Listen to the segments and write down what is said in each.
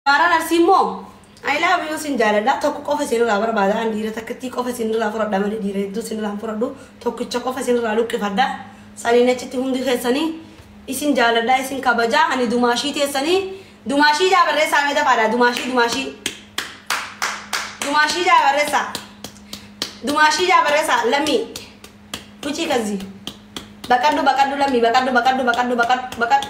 Shamarran Arsii immoo I love you sin jaaladha tokko qofa isinirraa barbaada an dhiira takkittii qofa isinirraa fudhadha malee dhiira hedduu isinirraa hin fudhadhu tokkicha qofa isinirraa luqqifadha saniin achitti hundi keessanii isin jaaladha isin kabajaa ani dumaashii teessanii dumaashii jaa barreessaa mee dafaadha dumaashii dumaashii dumaashii jaa barreessaa dumaashii jaa barreessaa lammii kuchii kazzii baqadhu baqadhu lammii baqadhu baqadhu baqadhu baqadhu baqadhu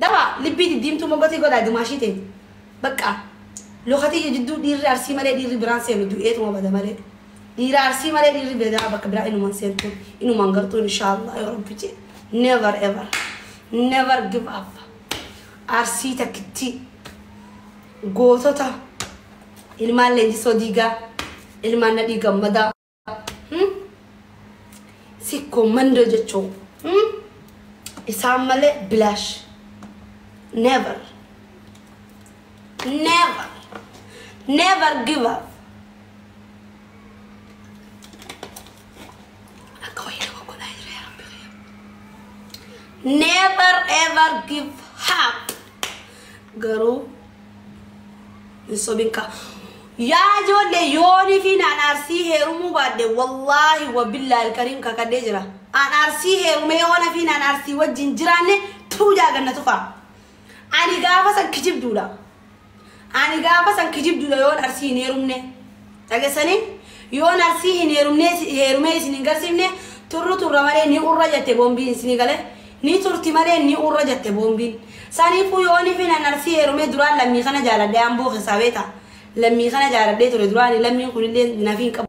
Dawaa libbii diddiimtuu mogotii godhaa dimaashii tee baqqaa loka tiyya jidduu dhiirri arsii malee dhiirri biraan seenu du'eetuma bada malee dhiira arsii malee dhiirri bedaa bakka biraa inuma hin seentu inuma hin gartuu inshaallah yoo rabbi jee never ever never give up arsii takkittii gootota ilmaan leenjisoo diigaa ilmaan nadhii gammadaa Hmm? Sikkoo mandoo jechuun hmm? isaan malee bilaash. Never. Never. Never give up. Akka wayii nama godhaa jira yaa Rabbi kiyya. Never ever give up. garuu hin sobin kaa yaa ijoollee yoonii fi naan aarsii heerumuu baadde wallaahi wabillaa ilkariim kakadhee jira aan aarsii heerumee yoona fi naan aarsii wajjin jiraanne tuu jaaganna tufaa ani gaafa san kijibduudha Ani gaafa san kijibdudha yoon arsii hin heerumne dhagessanii yoon arsii hin heerumne heerumee isin hin garsiifne turru turra malee ni urra jette boombiin isinii galee ni turti malee ni urra jette boombiin saniifuu yoonifin an arsii heerumee duraan lammii kana jaaladhee amboo keessaa beeta lammii kana jaaladhee ture duraani lammiin kunillee nafiin qabu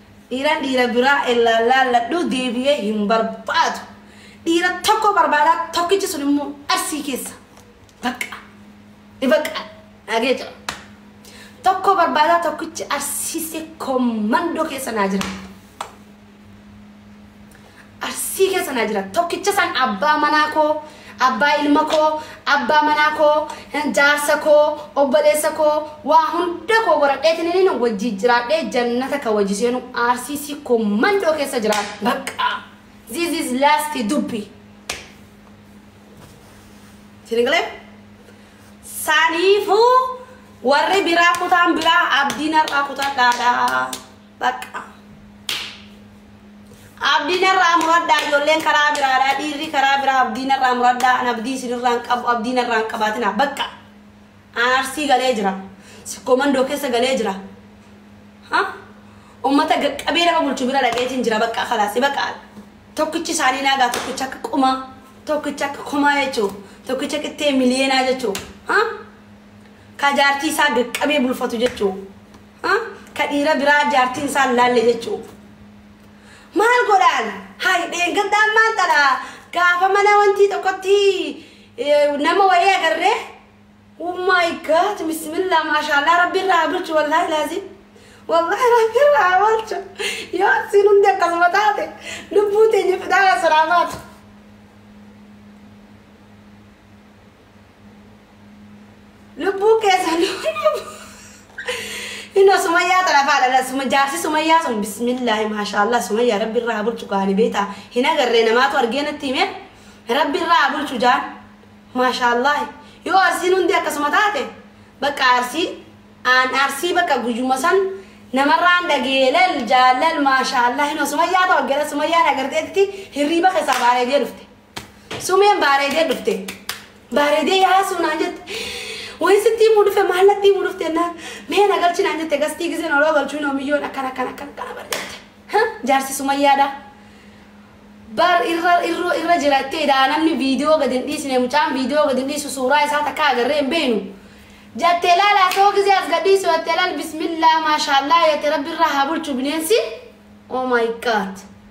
Dhiiran dhiira biraa ellaan laalladhu deebi'ee hin barbaadu. Dhiira tokko barbaada tokkichi sun immoo arsii keessa. Bakka. Ni bakka. Naagee jira. Tokko barbaada tokkichi arsiisee kommandoo keessa naa jira. Arsii keessa naa jira. Tokkicha san abbaa manaa koo, abbaa ilma koo, abbaa manaa koo, hin jaarsa koo, obboleessa koo, waa hunda koo goradheetininiin wajjii jiraadhee jannata ka wajji seenu Arsii sikkoo mandoo keessa jiraadha. Bakka! This is last dubbi. Isin galee? Saniifuu warri biraa kutaan biraa abdiin har'aa kutadhaadha. Bakka. Abdiin irraa muradhaa ijoolleen karaa biraadhaa dhiirri karaa biraa abdiin irraa muradhaa an abdii isinirraa hin qabu abdiin irraa hin qabaatinaa bakka. Aan arsii galee jira. Sikkoo mandoo keessa galee jira. Ha? Uummata qaqqabee nama bulchu bira dhaqeetiin jira bakka kalaasi bakka. Tokkichi isaanii naagaa tokkicha akka qumaa tokkicha akka kumaa jechuudha. Tokkicha qixxee miliyeenaa jechuudha. Ha? Ka jaartii isaa qaqqabee bulfatu jechuudha. Ha? Ka dhiira biraa jaartiin isaa hin laalle jechu'u. Maal godhaan? Hay dheengaddaan maal tadha? Gaafa mana wantii tokkotti eh, nama wayii agarree Oh my god, bismillah, maashaallah, rabbi irraa haa bulchu, wallahi laazim. Wallahi rabbi irraa haa bulchu. Yoo asiin hundi akkasuma taate, lubbuu teenya fidaa asirraa baatu. Lubbuu keessan Ino sumayyaa tana faadha suma jaarsi sumayyaa sun bismillaahi maashaallah sumayyaa rabbi irraa haa bulchu kaani beeta hin agarree namaatu argee natti hime rabbi irraa haa bulchu jaan maashaallah yoo arsiin hundi akkasuma taate bakka arsii aan arsii bakka guyyuma san namarraan dhageelal jaalal maashaallah ino sumayyaa ta'u gara sumayyaan agarteetti hirriiba keessaa baaree jee dhufte Sumeen baareedee dhufte. Baareedee yaasuu naan jette. Wayii sitti himuu dhufe maal natti himuu dhufte naan mee na galchi naan jette gastii giseen oloo galchuu noo miyyoon akkan akkan akkan akkana bar jette. Ha jaarsi sumayyaadha. Bar irra irra irra jirattee dha namni viidiyoo gad hin dhiisne mucaan viidiyoo gad hin dhiisu suuraa isaa takka agarree hin beeknu. Jattee laala asoo gisee as gad dhiisu jattee laal bismillaa maashaallaa jette rabbi irraa haa bulchu bineensi. Oh my god.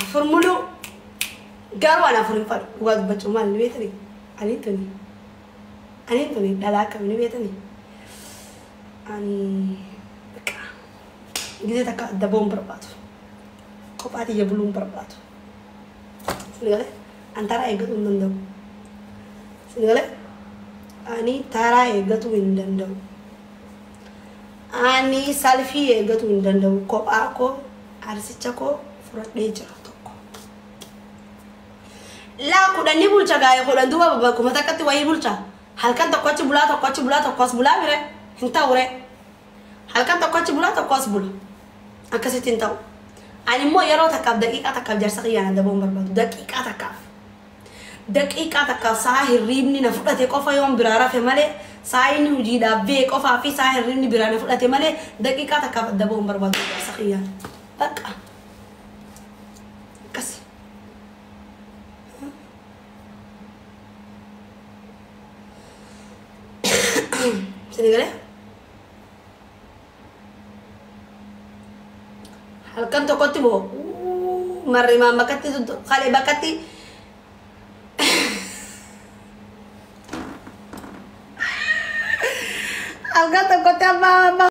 afur muluu garuu an afur hin fadhu dhugaa dubbachuu maal ni beetani aniin tuni aniin tuni dhalaa akkami ni beetani ani bakka gizee takka adda ba'uun barbaadu kophaa tiyya buluun barbaadu sini galee an taraa eeggatuu hin danda'u sini galee ani taraa eeggatuu hin danda'u Ani salfii eegatuu hin danda'u kophaa koo arsicha koo furadhee jira tokko. Laa kudhan ni bulcha gaa'e kudhan duuba bakkuma takkatti wayii bulcha. Halkan tokko achi bulaa tokko achi bulaa tokko as bulaa mire hin ta'u ree. Halkan tokko achi bulaa tokko as bula. Akkasitti hin ta'u. Ani immoo yeroo takkaaf daqiiqaa takkaaf jarsa kiyyaan adda ba'uu hin barbaadu. Daqiiqaa takkaaf. Daqiiqaa takkaaf sa'a hirriibni na fudhate qofa yoon biraa rafe malee, sa'a inni hujiidhaaf behe qofaa fi sa'a hirriibni biraa na fudhate malee daqiiqaa takkaaf adda bahuu hin barbaadu yaa jaarsa kiyyaa. Baqqa! Akkas. Isinii galee? halkan tokkotti boo marrimaan bakkatti kalee bakkatti halkan tokkotti abbaa abbaa